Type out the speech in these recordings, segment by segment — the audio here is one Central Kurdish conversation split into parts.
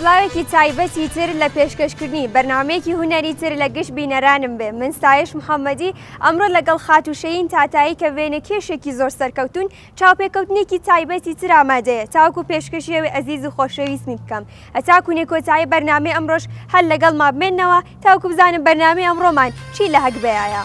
سڵاوێکی تایبەتی تر لە پێشکەشکردنی بەرنمەیەکی هوەری تر لە گشت بینەرانم بێ من ستایش محەممەدی ئەمڕۆ لەگەڵ خاتوشەین تاتایی کە وێنە کێشێکی زۆر سەرکەوتون چاوپێکەوتنێکی تایبەتی تر ئامادەیە تاوەکو پێشکەشی ئەوی ئەزیز و خۆشەویستمی بکەم هەتاکو نێ کۆتایی بەرنامەی ئەمڕۆش هەر لەگەڵما بمێنەوە تاوەکو بزانم بەرنامەی ئەمڕۆمان چی لە هەگبەیایە.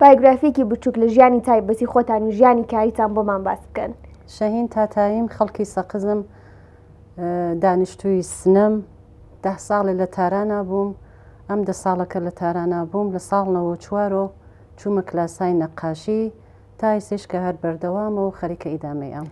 بایۆگرافیەکی بچوک لە ژیانی تایبەتی خۆتان و ژیانی کاریتان بۆمان باس بکەن. شەهین تاتاییم، خەڵکی سەقزم، دانیشتووی سنەم، دە ساڵێ لە تارانا بووم، ئەم دە ساڵە کە لە تارانا بووم لە ساڵ نەوەد و چوار ەوە چوومە کلاسای نەقاشی تا ئیستەیش کە هەر بەردەوامە و خەریکە ئیدامەی ئەم.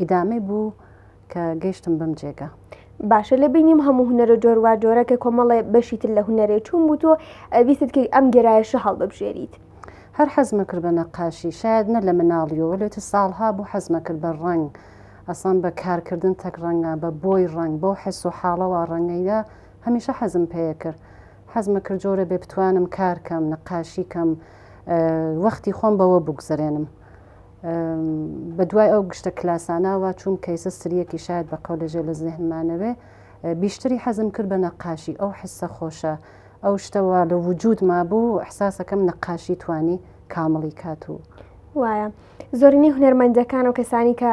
ئیدامەی بوو کە گەیشتم بەم جێگا. باشە لە بینیم هەموو هونەرە جۆروا جۆرە کە کۆمەڵێ بەشی تر لە هونەرێ چوون بوو تۆ ویستت کە ئەم گەرایشە هەڵببژێریت. هەر حەزمە کرد بە نەقاشی شاید نە لە مناڵیەوە لێ چ ساڵها بوو حەزمە کرد بە ڕەنگ ئەسڵەن بە کارکردن تەک ڕەنگە بە بۆی ڕەنگ بەو حەس و حاڵەوە ڕەنگەیدا هەمیشە حەزم پێیە کرد حەزمە کرد جۆرە بێ بتوانم کارکەم نەقاشی کەم وەختی خۆم بەوە بگوزرێنم. بە دوای ئەو گشتە کلاساناوە چووم کەیسە سریەکی شاید بە قەو لەژێ لە زێهنمانەوێ بیشتری حەزم کرد بە نەقاشی ئەو حسە خۆشە ئەو شتەوە لە وجود مابوو حساسەکەم نەقاشی توانی کامڵی کات و وایە زۆرینەی هونەرمەندەکان و کەسانی کە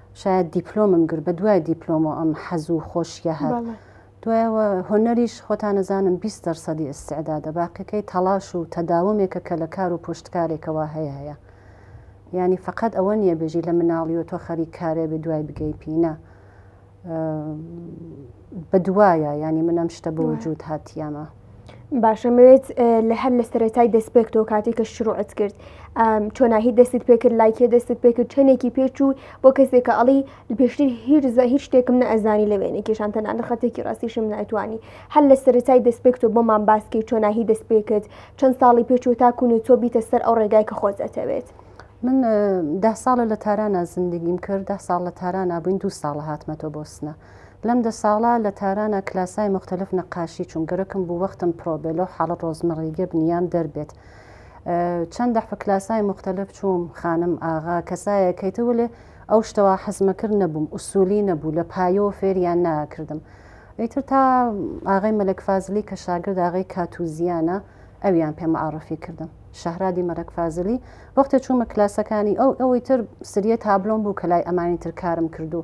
شاید دیپلۆمم گرت بە دوای دیپلۆمۆ ئەم حەز و خۆشیە هەر دوایەوە هۆنەریش خۆتانەزانم 20 دەرسەدی ئستعدادە باقیەکەی تەڵاش و تەداومێکە کە لە کار و پشتکارێکەوە هەیە هەیە ینی فقط ئەوە نییە بێژی لە مناڵی و تۆ خەری کارێ بە دوای بگەی پینە بە دوایە ینی منەم شتە بە وجود هاتیەمە باشە مەوێت لە هەر لە سەرەتای دەستپێکتەوە کاتی کە شروعت کرد چۆناهی دەستت پێکرد لایکێ دەستت پێکرد چەندێکی پێچوو بۆ کەسێکە ئەڵی پێشتر هیرزە هیچ شتێکم نە ئەزانی لە وێنێ کێشان تەنان لە خەتێکی ڕاستیشم ناتوانانی هەر لە سەرەتای دەستپێکتۆ بۆمان باسکی چۆناهی دەست پێکرد چەند ساڵی پێچوو تاکوون و تۆ بیتە سەر ئەو ڕێگای کە خۆت ئەتەوێت. من ده ساڵە لە تارانە زیندگیم کرد ده ساڵ لە تارانە بووین دو ساڵە هاتمەتۆ بۆ سنە لەم دە ساڵە لە تارانا کلاسای موختەلف نەقاشی چووم گەرەکم بوو وەختم پرۆ بێ لەو حاڵە ڕۆزمەڕیگە بنیام دەر بێت چەند دەحفە کلاسای موختەلف چووم خانم ئاغا کەسایە کەیتە ولێ ئەو شتەوە حەزمەکرد نەبووم ئوسولی نەبوو لە پایەوە فێریان ناکردم ئیتر تا ئاغای مەلەک فازلی کە شاگرد ئاغای کاتوزیانە ئەویان پێ معرفی کردم شەهرادی مەلەک فازلی وەختێ چوومە کلاسەکانی ئەو ئەوەی تر سریە تابلۆم بوو کە لای ئەمانی تر کارم کردوو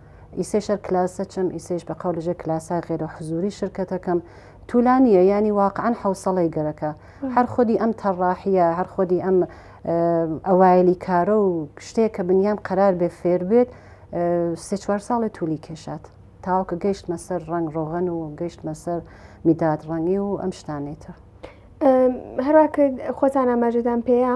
ئیسەی شەر کلاسە چم ئیسەیش بە قەول ژێ کلاسا غێرە حزوری شرکەتەکەم تولا نییە ینی واقعان حوسڵی گەرەکە هەر خودی ئەم تەڕاحە هەر خودی ئەم ئەوایلی کارە و شتێک کە بنیام قەرار بێ فێر بێت سێ چوار ساڵێ تولی کێشات تاوکە گەیشتمە سەر ڕنگ ڕۆغەن و گەیشتمە سەر میداد ڕەنگی و ئەم شتانێتە هەراکە خۆتان ئاماژەدان پێەیە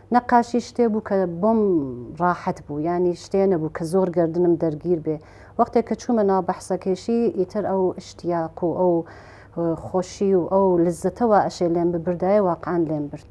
نەقاشی شتێ بوو کە بۆم ڕاحەت بوو یانی شتێ نەبوو کە زۆر گەردنم دەرگیر بێ وەختێک کە چوومە ناو بەحسەکەیشی ئیتر ئەو ئشتیاق و ئەو خۆشی و ئەو لزەتەوە ئەشێ لێم ببردایە واقعان لێم برد.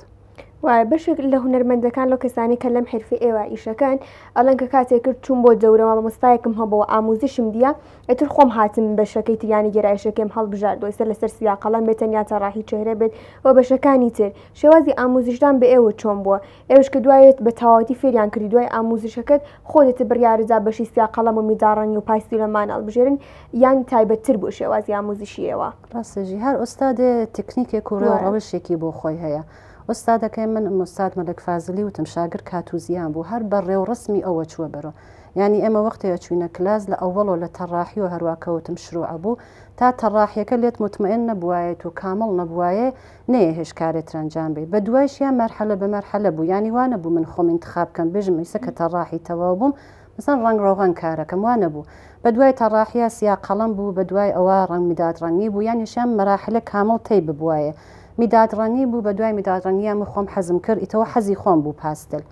وایە بەشێک لە هونەرمەندەکان لەو کەسانی کە لەم حرفی ئێوە ئیشەکەن ئەڵەن کە کاتێکرد چوون بۆ دەورەوە مامۆستایەکم هەبەوە ئاموزشم دیە ئیتر خۆم هاتم بەشەکەی تریانی گێرایشەکەیم هەڵبژاردووە سەر لەسەر سویا قەڵەم بێت تەنیا تەڕاحی چێهرە بێت و بەشەکانی تر شێوازی ئاموزشدان بە ئێوە چۆن بووە ئێوەش کە دوایت بە تەواوەتی فێریان کردی دوای ئاموزشەکەت خۆتت بڕیاردا بەشی سیا قەڵەم و میداڕەنگی و پاستی لەمان هەڵبژێرن یان تایبەت تر بوو شێوازی ئاموزشی ئێوە. ڕاستەژی هەر ئوستادێ تکنیکێک و ڕێ و ڕەوشێکی بۆ خۆی هەیە ئوستادەکەی من ئوستاد مەلەک فازلی وتم شاگرد کاتوزیان بوو هەر بە ڕێ و ڕەسمی ئەوە چووە بەرەو یانی ئێمە وەختێ ئەچوینە کلاس لە ئەوەڵۆ لە تەڕاحی و هەروا کەوتم شروع ئەبوو تا تەڕاحیەکە لێت موتمئن نەبوایەت و کامڵ نەبوایێ نەیەهێشت کارێ تر ئەنجام بەی بە دوایشیا مەرحەلە بە مەرحەلە بوو یانی وا نەبوو من خۆم ئینتخاب کەم بێژم ئیسە کە تەڕاحی تەواو بووم مەسەن ڕەنگ ڕۆغەن کارەکەم وا نەبوو بە دوای تەڕاحیا سیا قەڵەم بوو بە دوای ئەوە ڕەنگ میداد ڕەنگی بوو یانی شام مەراحلە کامڵ تەی ببوایێ میداد ڕەنگی بوو بە دوای میداد ڕەنگیا من خۆم حەزم کرد ئیتەوە حەزی خۆم بوو پاستل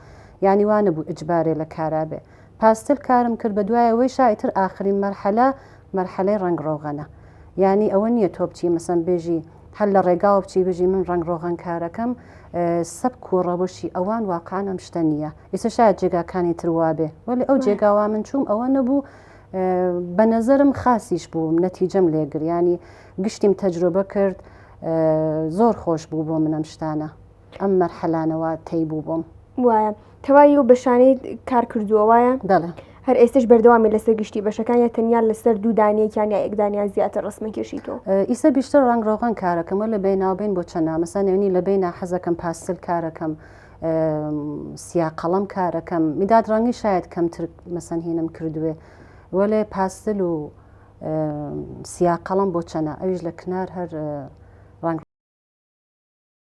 یانی وا نەبوو ئیجبارێ لە کارا بێ پاستل کارم کرد بە دوای ئەوەی شا ئیتر ئاخرین مەرحەلە مەرحەلەی ڕەنگ ڕۆغەنە یانی ئەوە نییە تۆ بچی مەسەن بێژی هەر لە ڕێگاوە بچی بژی من ڕەنگ ڕۆغەن کارەکەم سەبک و ڕەوشی ئەوان واقعان ئەم شتە نییە ئیسە شاید جێگاکانی تر وابێ وەلی ئەو جێگاوا من چووم ئەوە نەبوو بە نەزەرم خاسیش بووم نەتیجەم لێگریانی گشتیم تەجرۆبە کرد زۆر خۆش بوو بۆ منەم شتانە ئەم مەرحەلانەوە تەی بوو بووم وایە تەواوی و بەشانەی کار کردووە وایە بەڵێ هەر ئێستش بەردەوامی لەسەر گشتی بەشەکان یا تەنیا لەسەر دوو دانیەکیان یا ئەکدانیان زیاتر ڕسمە کێشیتەوە ئیسە بیشتر ڕنگ ڕۆغن کارەکەمە لە بیناوبین بۆ چەند نامەسا نێونی لە بینا حەزەکەم پاستل کارەکەم سیا قەڵم کارەکەم میداد ڕەنگی شاید کەمتر مەسەنهینم کردوێ وەلێ پاستل و سیا قەڵم بۆ چەنە ئەویش لە کنار هەر ڕنگ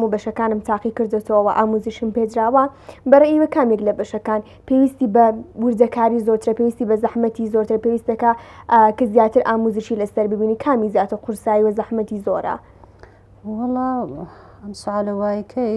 هەموو بەشەکانم تاقی کردێتەوە ئاموزیشم پێدراوە بەڕێوە کامێک لە بەشەکان پێویستی بە وردەکاری زۆرترە پێویستی بە زەحمەتی زۆرتر پێویستەکە کە زیاتر ئاموزشی لەسەر ببینی کامی زیاتر قورسایی و زەحمەتی زۆرە وڵا ئەم سوالە وایکەی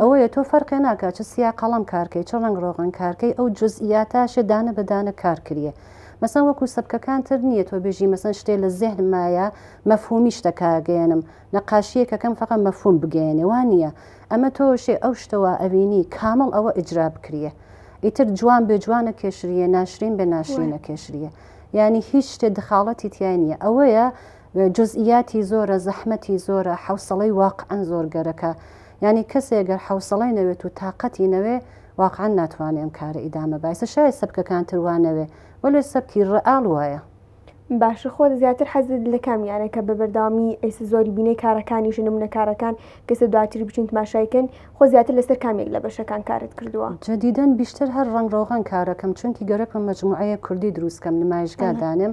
ئەوەیە تۆ فەرقێ ناکا چ سیا قەڵەم کارکەی چ ڕەنگ ڕۆغن کارکەی ئەو جزئیاتاشێ دانە بە دانە کار کریە مەسەن وەکو سەبکەکان تر نییە تۆ بێژی مەسەن شتێ لە زێهن مایە مەفهومی شتەکە گەیەنم نەقاشیەکە کەم فەقە مەفهوم بگەیەنێ وا نییە ئەمە تۆ شێ ئەو شتە وا ئەوینی کامڵ ئەوە ئیجرا بکریە ئیتر جوان بێ جوان نەکێشریە ناشرین بێ ناشرین نەکێشریە یانی هیچ شتێ دخاڵەتی تیای نییە ئەوەیە جزئیاتی زۆرە زەحمەتی زۆرە حەوسەڵەی واقعەن زۆر گەرەکە یانی کەسێ گەر حەوسەڵەی نەوێت و تاقەتی نەوێ واقعەن ناتوانێ ئەم کارە ئیدامە بایسە شایە سەبکەکان تر وا نەوێ وەلێ سەبکی ڕئاڵ وایە. باشە خۆت زیاتر حەزت لە کام یانەکە بە بەردەوامی ئەیسە زۆری بینەی کارەکانیشە نمونە کارەکان کەسە دواتری بچین تماشای کەن خۆ زیاتر لەسەر کام یەک لە بەشەکان کارت کردووە؟ جدیدەن بیشتر هەر ڕەنگ ڕۆغان کارەکەم چونکی گەرەکم مەجموعەیەک کوردی دروست کەم نمایشگا دانێم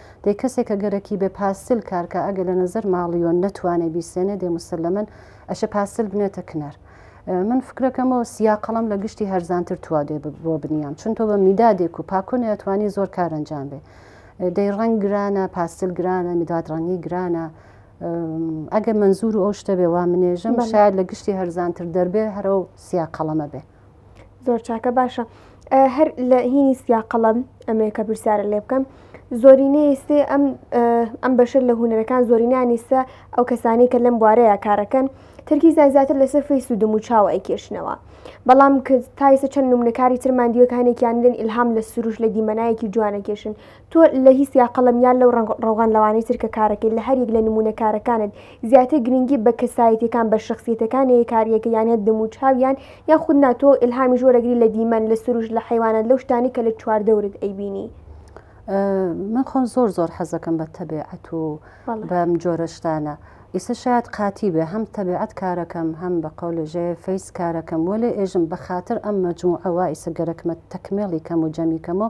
دەی کەسێ کە گەرەکی بێ پاسل کار کا ئەگەر لە نەزەر ماڵیۆن نەتوانێ بیسێنێ دەی موسەلەمەن ئەشێ پاسل بنێتە کنار. من فکرەکەم و سیا قەڵەم لە گشتی هەرزانتر توا دێ بۆ بنیام چون تۆ بە میدادێک و پاکۆنێ ئەتوانی زۆر کار ئەنجام بێ. دەی ڕەنگ گرانە، پاسل گرانە، میداد ڕەنگی گرانە. ئەگەر مەنزور و ئەو شتە بێ وا منێژم شایەد لە گشتی هەرزانتر دەربێ هەرەو سیا قەڵەمە بێ. زۆر چاکە باشە هەر لە هینی سیا قەڵەم ئەمەیە کە پرسیارە لێ بکەم زۆرینەی سێ ئەم ئەم بەشە لە هوەرەکان زۆرینانی سە ئەو کەسانی کە لەم بوارەیە کارەکەن ترکی زیاتر لەسەر فی سوودم و چاوە ئەیکێشنەوە بەڵام تایسە چەند نمونەکاری ترماندیوەکانێکیان لەن ئلهام لە سروش لە دیمەنایەکی جوانەکێشن تۆ لە هیس یا قەڵەم یان لەو ڕەنگ ڕەوغان لەوانەی تر کە کارەکەی لە هەر یەک لە نموونە کارەکانت زیاتر گرنگی بە کەسایەتیەکان بە شەخسیەتەکان نەیە کاریەکە یان هەر دەم و چاویان یان خود نا تۆ ئیلهامیش وەرەگری لە دیمەن لە سروشت لە حەیوانات لەو شتانەی کە لە چوار دەورت ئەیبینی. من خۆم زۆر زۆر حەزەکەم بە تەبێعەت و بەم جۆرە شتانە ئیسە شاید قاتی بێ هەم تەبێعەت کارەکەم هەم بە قەولێژێ فەیس کارەکەم وەێ ئێژم بە خاتر ئەم مەجموعەوە ئیسە گەرەکمە تەکمێڵی کەم و جەمی کەمەوە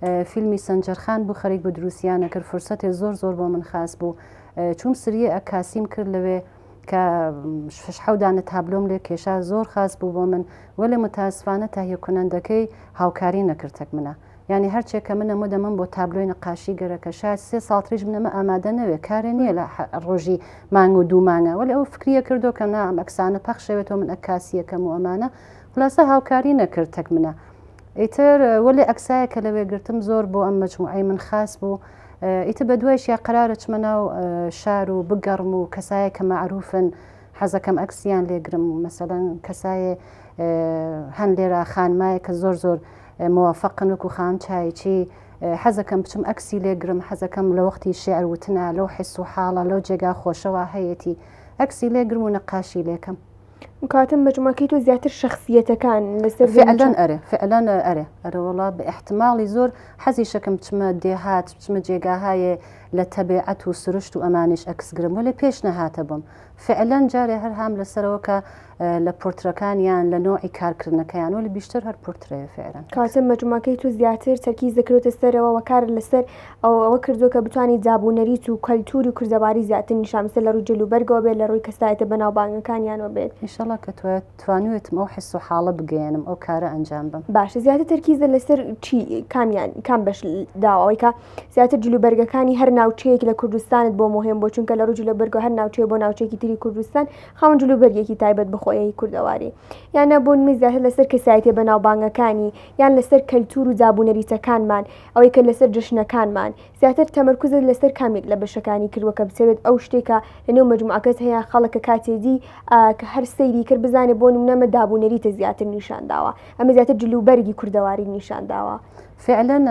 فیلمی سەنجەرخان بو خەریک بو دروسیانە کرد فرسەتێ زۆر زۆر بۆ من خاس بو چوم سریە ئە کاسیم کرد لەوێ کە شش حەو دانە تابلۆم لێ کێشا زۆر خاس بو بۆ من وەلێ متاسفانە تاهیە کونەندەکەی هاوکاری نەکردەک منە یعنی هەرچێ کە منە مدە من بۆ تابلۆی نەقاشی گەرەکە شاید سێ ساڵ تریش منە مە ئامادە نەوێ کارێ نییە لە ڕۆژی مانگ و دوو مانگە وەلێ ئەو فکریە کردو کە نا ئەم ئەکسانە پەخشەوێتەوە من ئەکاسیەکەم و ئەمانە خولاسە هاوکاری نەکرد تەک منە ئیتر وەلێ ئەکسایەک کە لەوێ گرتم زۆر بۆ ئەم مەجموعەی من خاس بوو ئیتر بە دوایش یا قەرارە چمە ناو شار و بگەڕم و کەسایە کە مەعروفن حەزەکەم ئەکسیان لێگرم و مەسەلەن کەسایێ هەن لێرا خانمایە کە زۆر زۆر موفقن وەکو خان چایچی حەزەکەم بچم ئەکسی لێگرم حەزەکەم لە وەختی شعر وتنا لەو حس و حاڵە لەو جێگا خۆشەوە هەیەتی ئەکسی لێگرم و نەقاشی لێکەم کاتم مەجموعەکەی تۆ زیاتر شخصیەتەکان لەسەر فعلەن ئەرێ فعلەن ئەرێ ئەرەوەڵا بە احتماڵی زۆر حەزی شەکەم بچمە دێهات بچمە جێگاهایێ لە تەبێعەت و سروشت و ئەمانش ئەکسگرم وەێ پێش نەهاتە بم فعلەن جارێ هەر هام لەسەرەوە کە لە پۆرترەکانیان لە نۆعی کارکردنەکەیان وەلی بیشتر هەر پۆرترەیە فعلەن کاتە مەجموعەکەی تو زیاتر تەرکیز دەکرێتە سەرەوە وەکار لەسەر ئەو ئەوە کردووە کە بتوانیت زاب و نەریت و کەلتوور و کوردەواری زیاتر نیشان بدات لە ڕووی جل و بەرگەوە بێت لە ڕووی کەسایەتە بەناوبانگەکانیانەوە بێت. ئیشەڵا کە توایە توانیوێتم ئەو حس و حاڵە بگەیەنم ئەو کارە ئەنجام بەم. باشە زیاتر تەرکیزە لەسەر چی کامیان کام بەش داوە ئەوەی کە زیاتر جل و بەرگەکانی هەر ناوچەیەک لە کوردستانت بۆ مهێن بووە چونکە لە ڕووی جل و بەرگەوە هەر ناوچەیە بۆ ناوچەیەکی تری کوردستان خاوەن جل و بەرگێکی تایبەت بە خۆیەی کوردەواری یان نا بۆ نموونە زیاتر لەسەر کەسایەتیە بەناوبانگەکانی یان لەسەر کەلتور و زابوو نەریتەکانمان ئەوەی کە لەسەر جەژنەکانمان زیاتر تەمەرکوزت لەسەر کامێک لە بەشەکانی کردوە کە بتەوێت ئەو شتێکە لەنێو مەجموعەکەت هەیە خەڵکە کاتێ دی کە هەر سەیری کرد بزانێ بۆ نموونە مە دابوو نەریتە زیاتر نیشان داوە ئەمە زیاتر جلوبەرگی کوردەواری نیشان داوە. فعلەن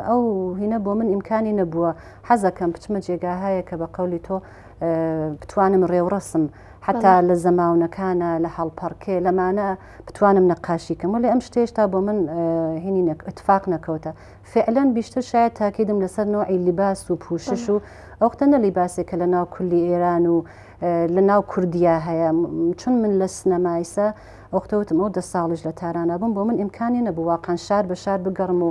ئەو هینە بۆ من ئیمکانی نەبووە حەزەکەم بچمە جێگاهایەک کە بە قەولی تۆ بتوانم ڕێوڕەسم حەتا لە زەماونەکانە لە هەڵپەڕکێ لەمانە بتوانم نەقاشی کەم ولی ئەم شتێشتا بۆ من هینی نەک اتفاق نەکەوتە فعلەن بیشتر شاید تاکیدم لەسەر نوعی لیباس و پوشش و ئەوختە نە لیباسێک کە لە ناو کولی ئێران و لە ناو کوردیا هەیە چون من لە سنەمایسە ئەوختەوتم ئەو دە ساڵیش لە تارانە بووم بۆ من ئیمکانی نەبوو واقعان شار بە شار بگەڕم و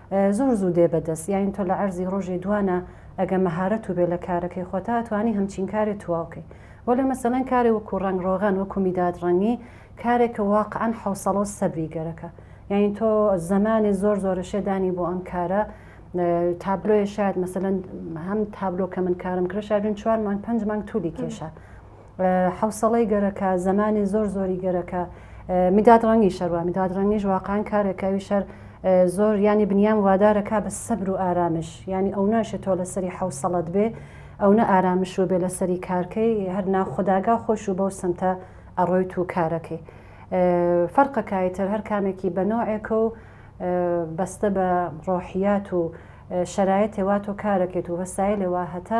زۆر زوو دێ بە دەست یاین تۆ لە عەرزی ڕۆژێ دوانە ئەگە مەهارەت و بێ لە کارەکەی خۆتا ئەتوانی هەمچین کارێ تواو کەی وەلێ مەسەلەن کارێ وەکوو ڕەنگ ڕۆغان وەکوو میداد ڕەنگی کارێکە واقعەن حەوسەڵە و سەبری گەرەکە یاین تۆ زەمانێ زۆر زۆرەشێ دانی بۆ ئەم کارە تابلۆێ شاد مەسەلەن هەم تابلۆ کە من کارم کرد شاد چوار مانگ پەنج مانگ تولی کێشا حەوسەڵەی گەرەکە، زەمانی زۆر زۆری گەرەکە. میداد ڕەنگی شەر وا، میداد ڕەنگیش واقعەن کارێکە ئەوی شەر زۆر یانی بنیام وادارە کا بە سەبر و ئارامش، یانی ئەو ناشێ تۆ لەسەری حەوسەڵەت بێ، ئەونە ئارامش و بێ لەسەری کارکەی، هەر ناخوداگا خۆیش و بەو سمتە ئەڕۆیت و کارەکەی. فەرقە کا ئیتر هەر کامێکی بە نەوعێکە و بەستە بە ڕۆحیات و شەرایتێ وا تۆ کارەکەیت و وەسایلێ وا هەتە،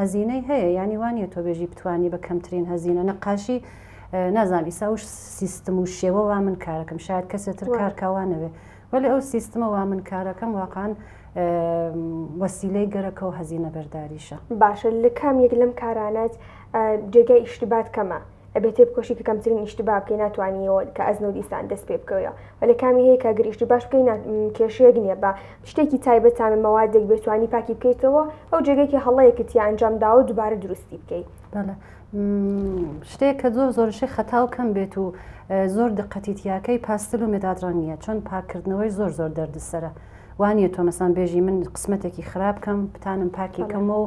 هەزینەی هەیە یانی وانیە تۆ بێژی بتوانی بە کەمترین هەزینە نەقاشی نازان ئیسا و سیستم و شێوە وا من کارەکەم شاید کەسێتر کارکوانەوێ وەلی ئەو سیستمە وا من کارەکەم واقعاان وەسیلەی گەرەکە و هەزینە بەرداریشە باشە لە کام یەک لەم کارانەت جێگای ئیشتبات کەمە ئەبێ تێبکۆشی کە کەمترین ئیشتبا بکەی ناتوانیەوە کە ئەزموو دیسان دەست پێ بکەویەوە وە لە کامی هەیە کە گەر ئیشتباش بکەی کێشەیەک نییە بە شتێکی تایبەت تامە مەوادێک بێ توانی پاکی بکەیتەوە ئەو جێگەی کە هەڵەیەکت یا ئەنجام داوە دووبارە دروستی بکەیت بەڵێ شتێک کە زۆر زۆرشی خەتا و کەم بێت و زۆر دقەتیتیاکەی پاستل و مێداد ڕەنگ نییە چۆن پاکردنەوەی زۆر زۆر دەردسەرە وانە تۆ مەسان بێژی من قسمەتێکی خراپ بکەم بتانم پاکیکەمەوە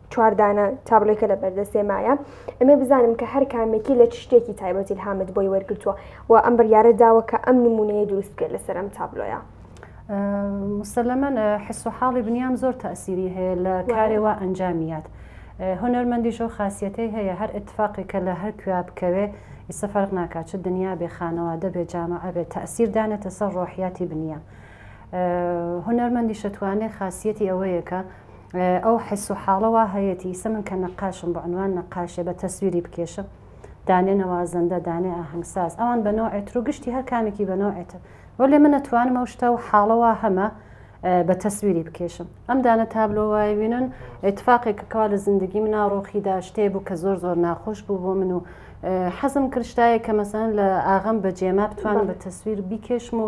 چوار دانە تابلۆیکە لە بەردەستێ مایە ئەمێ بزانم کە هەر کامێکی لە چ شتێکی تایبەتی الهامت بۆی وەرگرتووە و ئەم بڕیارە داوە کە ئەم نمونەیە دروست بکەیت لەسەر ئەم تابلۆیە. مسلمەن حس و حاڵی بنیام زۆر تاسیری هەیە لە کارێوا ئەنجامیات هونەرمەندی شەو خاصەتی هەیە هەر اتفاقی کە لە هەر کوێ بکەوێ ئیسە فەرق ناکات چ دنیا بێ خانەوادە بێ جامعە بێ تاسیر دانێتە سەر ڕۆحیاتی بنیام هونەرمەندی شەتوانێ خاصەتی ئەوەیەکە ئەو حس و حاڵە وا هەیەتی ئیسە من کە نەقاشم بە عنوان نەقاشێ بە تەسویری بکێشم دانێ نەوازەندە دانێ ئاهەنگساز ئەوان بە نەوعێ تر و گشتی هەر کامێکی بە نەوعێ تر وەلێ من ئەتوانم ئەو شتە و حاڵە وا هەمە بە تەسویری بکێشم ئەم دانە تابلۆ وای وینن اتفاقێک کە کوا لە زندگی منا ڕۆخیدا شتێ بوو کە زۆر زۆر ناخۆش بوو بۆ من و حەزم کرشتایە کە مەسەن لە ئاغم بە جێما بتوانم بە تەسویر بیکێشم و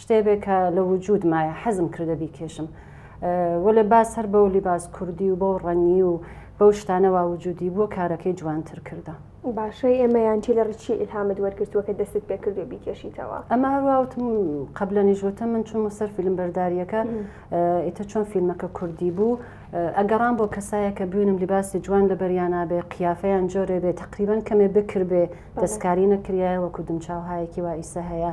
شتێ بێ کە لە وجوود مایە حەزم کردە بیکێشم. وەلێ باس هەر بەو لیباس کوردی و بەو ڕەنگی و بەو شتانە وا وجوودی بووە کارەکەی جوانتر کردە. باشە ئێ مەیان چی لە ڕێ چی ئیلهامت وەرگرتووە کە دەستت پێ کردووە بیکێشیتەوە؟ ئەمە هەر وا وتم قەبلەنیش وتم من چوومە سەر فیلمبەردارییەکە ئیتر چۆن فیلمەکە کوردی بوو ئەگەڕام بۆ کەسایەک کە بوینم لیباسی جوان لە بەریانا بێ قیافەیان جۆرێ بێ تەقریبەن کەمێ بکر بێ دەستکاری نەکریایە وەکوو دمچاوهایەکی وا ئیسە هەیە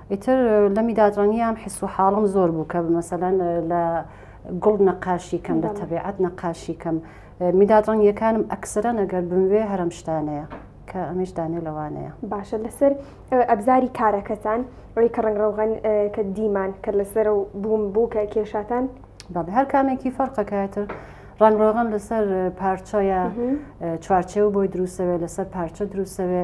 ئیتر لەمی دادڕەنیام حس و حاڵم زۆر بوو کە مەسەلەن لە گوڵ نەقاشی کەم لە تەبیعەت نەقاشی کەم میداد ڕەنگیەکانم ئەکسرە نەگەر بموێ هەرم شتانەیە کە ئەمیش دانێ لەوانەیە باشە لەسەر ئەبزاری کارەکەتان ئەوی کە ڕنگ ڕەوغان کە دیمان کە لەسەر و بووم بوو کە کێشاتان بەڵێ هەر کامێکی فەرقەکەتر ڕنگڕۆغن لەسەر پارچەیە چوارچێو بۆی دروستەوێ لەسەر پارچە دروستەوێ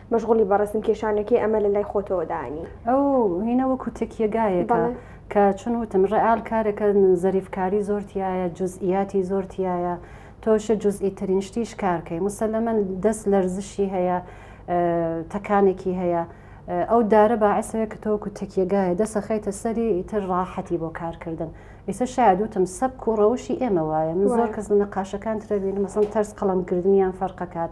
مەشغوڵی بە ڕەسم کێشانەکەی ئەمە لە لای خۆتەوە دانی. ئەو هینە وەکو تەکیە گایەکە بەڵێ. کە چون وتم ڕئال کارەکە زەریف کاری زۆر تیایە جوزئیاتی زۆر تیایە تۆشە جوزئی ترین شتیش کار کەی موسەلەمەن دەست لەرزشی هەیە تەکانێکی هەیە ئەو دارە باعسەوێ کە تۆ وەکو تەکیە گایە دەست ئەخەیتە سەری ئیتر ڕاحەتی بۆ کار کردن ئیسە شاید وتم سەبک و ڕەوشی ئێمە وایە من زۆر وایە. کەس لە نەقاشەکان ترە بینم مەسەڵەن تەرز قەڵەم گرتنیان فەرق ئەکات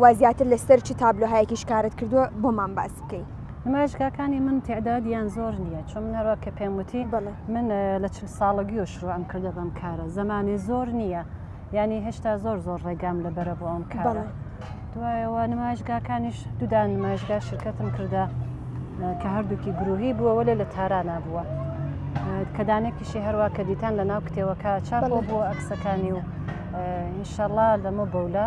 وا زیاتر لەسەر چ تابلۆهایەکی شکارت کردووە بۆمان باس بکەی نمایشگاکانی من تعداد یان زۆر نییە چون منەوە کە پێم وتی من لە چل ساڵگی و شروع ئەم کردە بەم کارە زمانی زۆر نییە ینی هێشتا زۆر زۆر ڕێگام لە بەرە بۆ ئەم کارە دوایەوە نمایشگاکانیش دوودان نمایشگا شرکەتم کردە کە هەردووکی گروهی بووە وەێ لە تارانا بووە کەدانێکیشی هەروە کە دیتان لە ناو کتێوەکە چاپ بۆ ئەکسەکانی و ئینشەڵا لەمە بەولە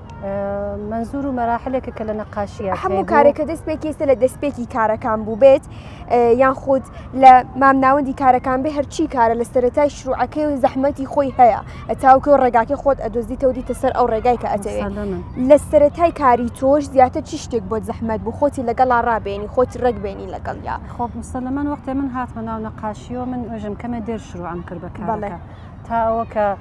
منزور و مەراحلێکە کە لە نەقاشیە هەموو کارێکە دەست پێکیێستە لە دەستپێکی کارەکان بوو بێت یان خود لە مامناوەندی کارەکان بێ هەرچی کارە لە سەرەتای شروعەکەی و زەحمەتی خۆی هەیە ئەتاوکە و ڕێگاکە خۆت ئەدۆزی تەودی تەسەر ئەو ڕێگای کە ئەتەوێت لە سەرەتای کاری تۆش زیاتر چی شتێک بۆ زەحمەت بوو خۆتی لەگەڵا ڕابێنی خۆتی ڕێکبێنی لەگەڵ یا خۆ مسللمەن وەختێ من هاتمە ناو نەقاشیەوە من ئۆژم کەمە دێر شروعم کرد بەکارڵەکە تا ئەوە کە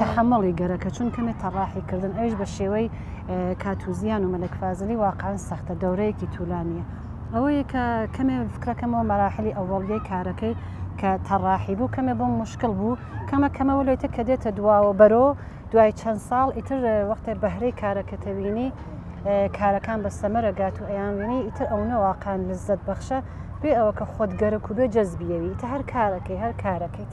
تەحەموڵی گەرەکە چون کەمێ تەڕاحی کردن ئەویش بە شێوەی کاتوزیان و مەلەک فازلی واقعا سەختە دەورەیەکی تولانیە ئەوەیە کە کەمێ فکرەکەمەوە مەراحلی ئەوەڵگەی کارەکەی کە تەڕاحی بوو کەمێ بۆم مشکل بوو کەمە کەمەوە لێتە کە دێتە دواوە بەرۆ دوای چەند ساڵ ئیتر وەختێ بەهرەی کارەکەتەوینی کارەکان بە سەمەرەگات و ئەیانوینی ئیتر ئەو نەواقان لەزەت بەخشە بێ ئەوە کە خۆت گەرەک و بێ جەزبیەوی تە هەر کارەکەی هەر کارەکەیت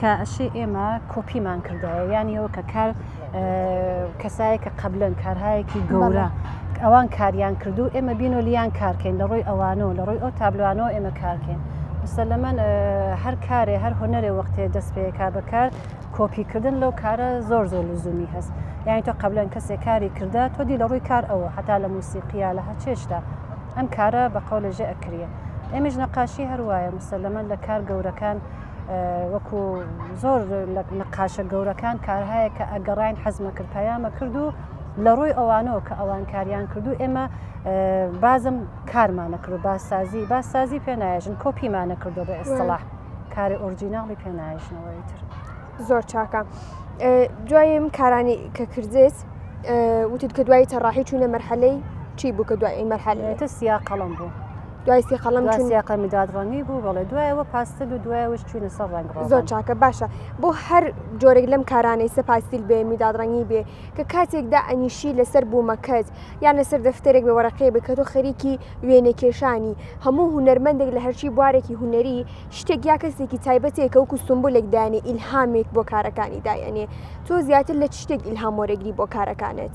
کە ئەشێ ئێمە کۆپیمان کردایە یانی ئەو کە کار کەسایە کە قبلن کارهایەکی گەورە ئەوان کاریان کردو ئێمە بین و لیان کارکەین لە ڕۆی ئەوانە و لە ڕۆی ئەو تابلوانەوە ئێمە کارکەین مسلمەن هەر کارێ هەر هۆنەرێ وەختێ دەست پێکا بەکار کۆپیکردن لەو کارە زۆر زۆر لزومی هەست یانی تۆ قبلەن کەسێک کاری کردە تۆ دی لە ڕووی کار ئەوە هەتا لە موسیقییا لە هەچێشتا ئەم کارە بەقەولە ژە ئەکرە ئێمەش نەقاشی هەروایە مسلمەن لە کار گەورەکان وەکو زۆر لە نەقاشە گەورەکان کارهایە کە ئەگەڕین حەزمە کرد پەیامە کرد و لە ڕووی ئەوانەوە کە ئەوان کاریان کردو ئێمە بازم کارمانە کرد باسازی باسازی پێناژن کۆپیمانە کردو بە ئێستڵاح کاری ئۆرجیناڵی پێناژنەوەی تر زۆر چاکە دوایم کارانی کە کردێت وتت کە دوای تەڕاحی چوونە مەرحەلەی چی بوو کە دوای مەرحەلێتە سیا قەڵم بوو. دوای سی قەڵم دوای چون سی قەڵمی داد ڕەنگی بوو بەڵێ دوایەوە پاستل و دوایەوەش چوینە سەر ڕەنگ ڕۆغن. زۆر چاکە باشە بۆ هەر جۆرێک لەم کارانەی سەپاسیل بێ میدادڕەنگی بێ کە کاتێکدا ئەنیشی لەسەر بوومەکەت یان لەسەر دەفتەرێک بێ وەرەقەیە بێ کە تۆ خەریکی وێنەکێشانی هەموو هونەرمەندێک لە هەرچی بوارێکی هونەری شتێک یا کەسێکی تایبەتێک کە وەکو سمبولێک دانێ ئیلهامێک بۆ کارەکانی دایەنێ تۆ زیاتر لە چ شتێک ئیلهام وەرەگری بۆ کارەکانت؟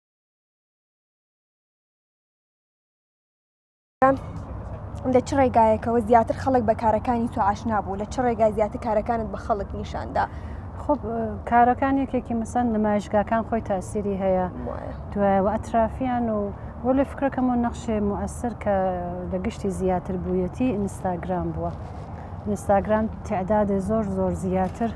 لە چ ڕێگایەکەوە زیاتر خەڵک بە کارەکانی تو ئاشنا بوو لە چ ڕێگای زیاتر کارەکانت بە خەڵک نیشاندا خب کارەکان یەکێکی مسەن نمایشگاکان خۆی تاسیری هەیە دوای و ئەترافیان و بۆ لە فکرەکەم و نەخشێ موەسر کە لە گشتی زیاتر بوویەتی ئینستاگرام بووە. ئینستاگرام تعدادێ زۆر زۆر زیاتر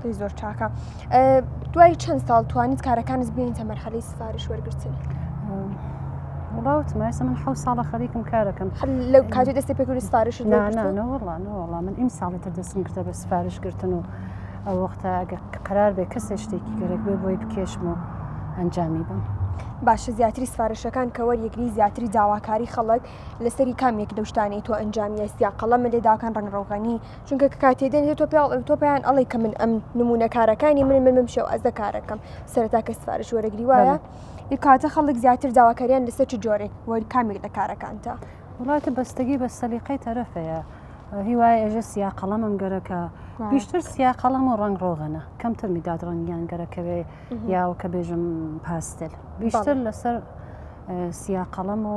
پێی زۆر چاکە دوای چەند ساڵ توانیت کارەکانت بینیتە مەرحەلی سفارش وەرگتن وڵاوتمە ئێستا من حە ساڵە خەریکم کارەکەم لە کاتی دەستی پێکردی سفارش ناوەڵانەوەڵام من ئیم ساڵی تر دەستم کردە بە سفارش گرتن و ئەو وەختە ئەگە قرار بێ کەسێ شتێکی گەرەک بێ بۆی بکێشم و ئەنجامی بم. باشە زیاتری سفارشەکان کە وەریەکری زیاتری داواکاری خەڵک لەسەری کامێک دەشتانی تۆ ئەنجامیە سیا قەڵەمە لێداکان ڕنگڕۆغنی چونکە کە کاتێ دێنێت تۆ پێڵ تۆ پێیان ئەڵی کە من ئەم نمونە کارەکانی من من بمشێ و ئەزە کارەکەم سەرتا کە سفارش وەرەگری وایە ی کاتە خەڵک زیاتر داواکاریان لەسەر چ جۆرێ وەری کامێک لە کارەکانتە وڵاتە بەستگی بە سەلیقەی تەرەفەیە هیوای ئێژە سیا قەڵەمم گەرەکە بیشتر سیا قەڵەم و ڕنگ ڕۆغەنە کەمتر میداد ڕنگیان گەرەکەوێ یاوە کە بێژم پاستل بیشتر لەسەر سیا قەڵەم و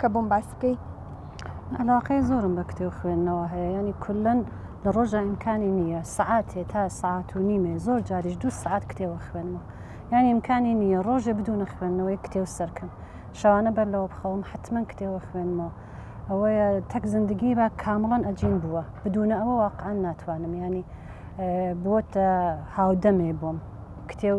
کە بۆم باس بکەی. عەلاقەی زۆرم بە کتێو خوێندنەوە هەیە یانی کولەن لە ڕۆژا ئیمکانی نییە سەعاتێ تا سەعات و نیمێ زۆر جاریش دوو سەعات کتێوە خوێنمە یانی ئیمکانی نییە ڕۆژێ بدونە خوێندنەوەی کتێو سەرکەم شەوانە بەر لەوە بخەوم حتمەن کتێوە خوێنمەوە ئەوەیە تەک زندگی بە کامڵەن ئەجین بووە بدونە ئەوە واقعا ناتوانم یانی بووەتە هاودەمێ بۆم کتێو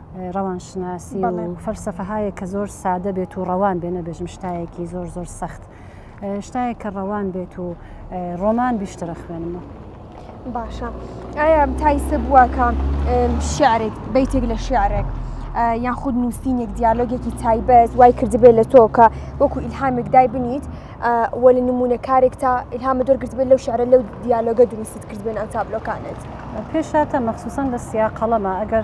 ڕەوانشناسی و فەلسەفەهایە کە زۆر سادە بێت و ڕەوان بێ نەبێژم شتایەکی زۆر زۆر سەخت شتایە کە ڕەوان بێت و ڕۆمان بیشترە خوێنمە باشە ئایا تایسە بووە کە شعرێک بیتێک لە شعرێک یان خود نووسینێک دیالۆگێکی تایبەت وای کردبێت لە تۆ کە وەکو ئیلهامێک دای بنیت وە لە نمونە کارێک تا ئیلهامە دەرگرتبێت لەو شعرە لەو دیالۆگە دروستت کردبێن ئەو تابلۆکانت پێشاتە مەخصوسن لە سیاقەڵەمە ئەگەر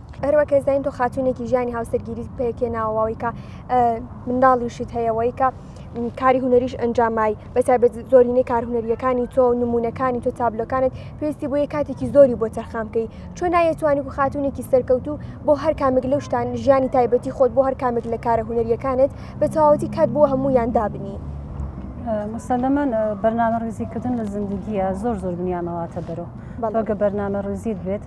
هەروەک کە زانین تۆ خاتونێکی ژیانی هاوسەرگیری پێکێناوەوەی کە منداڵیشت هەیەەوەی کە کاری هوەریش ئەنجامای بەتابێت زۆرینەی کار هوەریەکانی تۆ و نمونونەکانی تۆ تابلۆکانت پێویستی بۆیە کاتێکی زۆری بۆ تەرخام بکەی چۆن نایەتوانی و خاتونێکی سەرکەوتو بۆ هەر کامێک لەو شتان ژیانی تایبەتی خۆت بۆ هەر کامێک لە کارە هوەریەکانت بە تەواوەتی کات بۆ هەموو یان دابنی. مسلمان بەرنامە ڕزیکردن لە زیندگیە زۆر زۆر بنیامەواتە بەرەوە بەڵگە بەرنامە ڕزیت بێت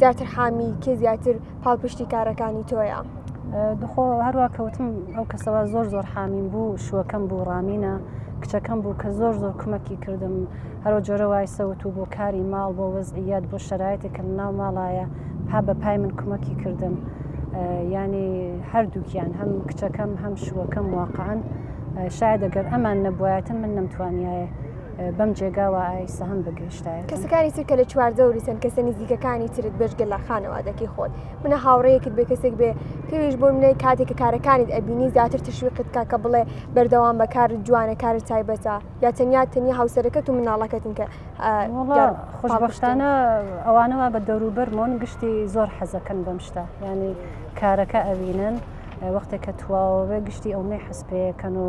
زیاتر حامی کێ زیاتر پاڵپشتی کارەکانی تۆیە دخۆ هەروە کەوتم ئەو کەسەوە زۆر زۆر حامیم بوو شوەکەم بوو ڕامینە کچەکەم بوو کە زۆر زۆر کمەکی کردم هەرو جۆرە وای سەوت و بۆ کاری ماڵ بۆ وەزعیات بۆ شەرایەتێک کە ناو ماڵایە پا بە پای من کمەکی کردم ینی هەردووکیان هەم کچەکەم هەم شوەکەم واقعاان شاید دەگەر ئەمان نەبایەتە من نەمتوانایە بەم جێگاوە ئای سەهم بگەشتایە کەسەکانی تر کە لە چواردەوری سند کەسە نزیکەکانی ترت بێژگە لە خانەوادەکی خۆت منە هاوڕەیەکت بێ کەسێک بێ پێویش بۆ منەی کاتێک کە کارەکانیت ئەبینی زیاتر تشویقت کا کە بڵێ بەردەوام بە کار جوانە کار تایبەتە یا تەنیا تەنیا هاوسەرەکەت و مناڵەکەتن کە خۆشببختانە ئەوانەوە بە دەوروبەرمۆن گشتی زۆر حەزەکەن بەم شتە ینی کارەکە ئەوینن وەختێک کە تواوە گشتی ئەو نەی حەسپەیەکەن و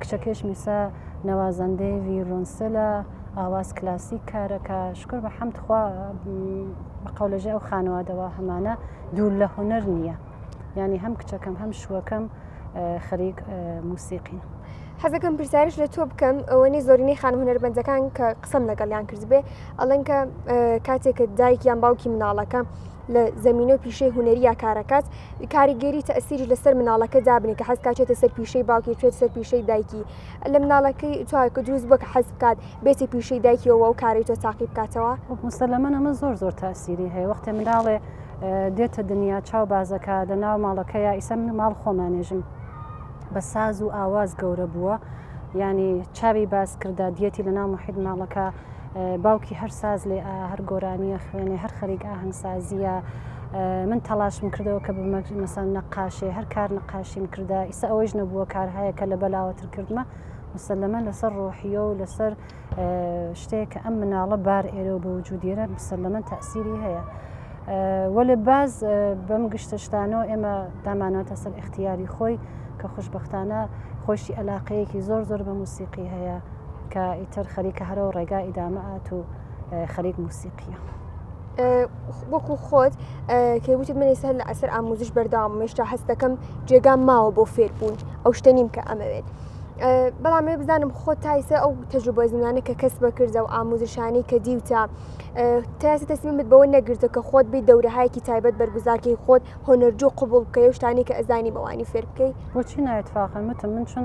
کچەکەش میسا نوازەندەی ویرونسلە ئاواز کلاسیک کارەکە شکر بە حەمد خوا بە قەولەژە ئەو خانوادەوە هەمانە دوور لە هوەر نییە ینی هەم کچەکەم هەم شوەکەم خەریک موسیقین. حەزەکەم پرسیارش لە تۆ بکەم ئەوەی زۆرینەی خان هوەربندەکان کە قسم لەگەڵیان کردبێ ئەڵەن کە کاتێکە دایک یان باوکی مناڵەکە لە زەمینە و پیشەی هونەرییا کارەکات کاریگەری تەسیری لەسەر مناڵەکە دابنی کە حەزکات چێتە سەر پیشەی باوکی چێت سەر پیشەی دایکی لە مناڵەکەی چاکە دروست بۆ کە حەز بکات بێتی پیشەی دایکیەوە و کاری تۆ تاقی بکاتەوە مسلەمەن ئەمە زۆر زۆر تاسیری هەیە وەختێ مناڵێ دێتە دنیا چاو بازەکە لە ناو ماڵەکە یا ئیسە من ماڵ خۆمانێژم بە ساز و ئاواز گەورە بووە ینی چاوی باز کردا دیەتی لە ناو محید ماڵەکە باوکی هەر ساز لێ هەر گۆرانیە خوێنێ هەر خەریک ئاهەنگسازیە من تەلاشم کردەوە کە بمەسان نەقاشێ هەر کار نەقاشیم کردە ئیسا ئەوەیش نەبووە کار هەیە کە لە بەلاوەتر کردمە مسلەمە لەسەر ڕۆحیە و لەسەر شتێک کە ئەم مناڵە بار ئێرە و بە وجودێرە مسلەمە تاسیری هەیە. وەێ باز بەم گشتە شتانەوە ئێمە داماناتە سەر اختیاری خۆی کە خوشببختانە خۆشی علاقەیەکی زۆر زۆر بە موسیقی هەیە کە ئیتر خەریکە هەرەوە ڕێگا ئیدامە ئات و خەریک موسیقیە. وەکو خۆت کە وتت من سەر لە ئەسەر ئاموزش بەرداوام مێشتا هەست دەکەم جێگام ماوە بۆ فێربوون ئەو شتە نیم کە ئەمەوێت. بەڵام مێ بزانم خۆ تایسە ئەو تەجوبە زمانە کە کەس بەکردە و ئاموزشانی کە دیوتە تاسی تەسمیمت بەوە نەگرتە کە خۆت بی دەورەهایکی تایبەت بەرگزارکەی خۆت هۆنەرجو قوبول بکەی شتانی کە ئەزانی بەوانی فێر بکەیت بۆچی ناوێت فاقەمتم من چون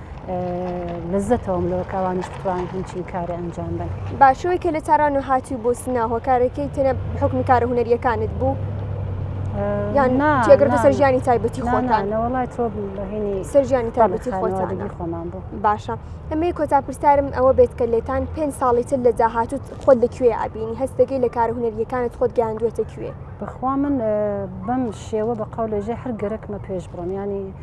لەزەتەوەم لەوە کە ئەوانیش بتوانن هەمچین کارە ئەنجام بن باشەوەی کە لە تاران و هاتی بۆ سنا هۆکارەکەی تەنە حکمی کارە هوەریەکانت بوو یان تێگرتە سەرژیانی تایبەتی خۆنانەوەڵای تۆ بەهێنی سەرژیانی تابەتی خۆتانگی خۆمان بوو باشە ئەمەی کۆتا پرسیارم ئەوە بێت کە لێتان پێ ساڵی تر لە داهاتوت خۆت لەکوێ ئابینی هەستەکەی لە کار هوەریەکانت خۆت گەیاندوێتە کوێ بخوا من بەم شێوە بە قاو لەژێ هەر گەرەکمە پێش بڕۆم ینی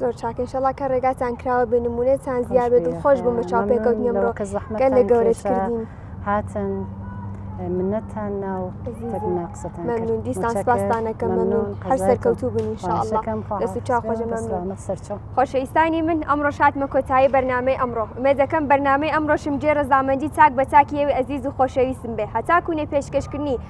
زۆر چاک انشاللە کە ڕێگاتان کراوە بێ نمونەتان زیاد بێت دڵخۆش بووم بە چاو پێکەوتنی ئەمڕۆ کە زەحمەت گەلێک گەورەش کردین هاتن منەتان ناو تەبنا قسەتان ممنون دیسان سپاستانەکە ممنون هەر سەرکەوتو بن انشاءالله دەست و چاو خۆش ممنون خۆشەویستانی من ئەمڕۆ شاتمە کۆتایی بەرنامەی ئەمڕۆ ئومێد دەکەم بەرنامەی ئەمڕۆشم جێ ڕەزامەندی تاک بە تاکیەوی ئەزیز و خۆشەویستم بێ هەتاکوونێ پێشکەشکردنی